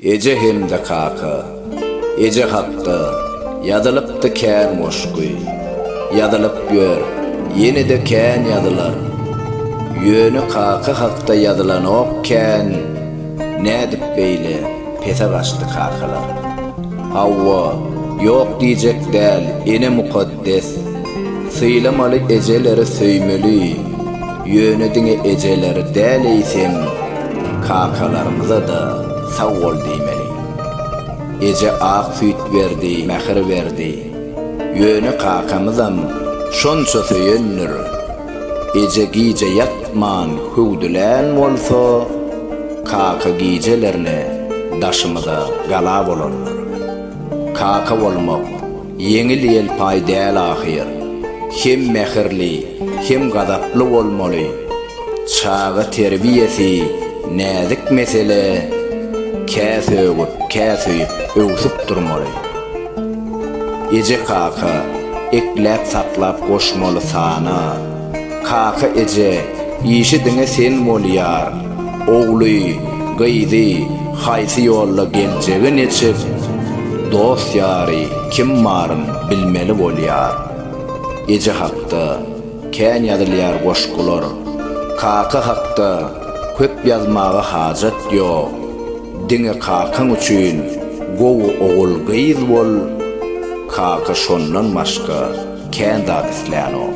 Eje hem-de kaka. Eje hakda ýazylypdy kän goşgy. Ýazylyp ýör, ýene-de kän ýazylar. Ýöne kaka hakda ýazylanok kän. Nädip beýle pese gaçdy kakalar? Hawa, ýok diýjek däl, ene mukaddes. Des. Sylamaly ejeleri söýmeli ýöne diňe ejeleri däl eýsem kakalarymyzada sag bol diýmeli. Eje ak süýt berdi mähir berdi ýöne kakamyzam şonça söýendir eje gije ýatman hüwdülän bolsa kaka gijelerine daşymyza gala bolandyr. Kaka bolmak Ýeňil-ýelpaý däl ahyr. Hem mähirli, hem gazaply bolmaly. Çaga terbiýesi näzik mesele, kä sögüp, kä söýüp, öwsüp durmaly. Eje-kaka ekläp-saklap goşmaly sana. Kaka eje, işi diňe sen bolýar. Ogly, gyzy, haýsy ýolda geljegi neçik, dost-ýary kim baryn bilmeli bolýar. Eje hakda kän ýazylýar goşgular. Kaka hakda köp ýazmaga hajat ýok. Diňe kakaň üçin gowy ogul-gyz bol, kaka şondan başga kän zat islänok.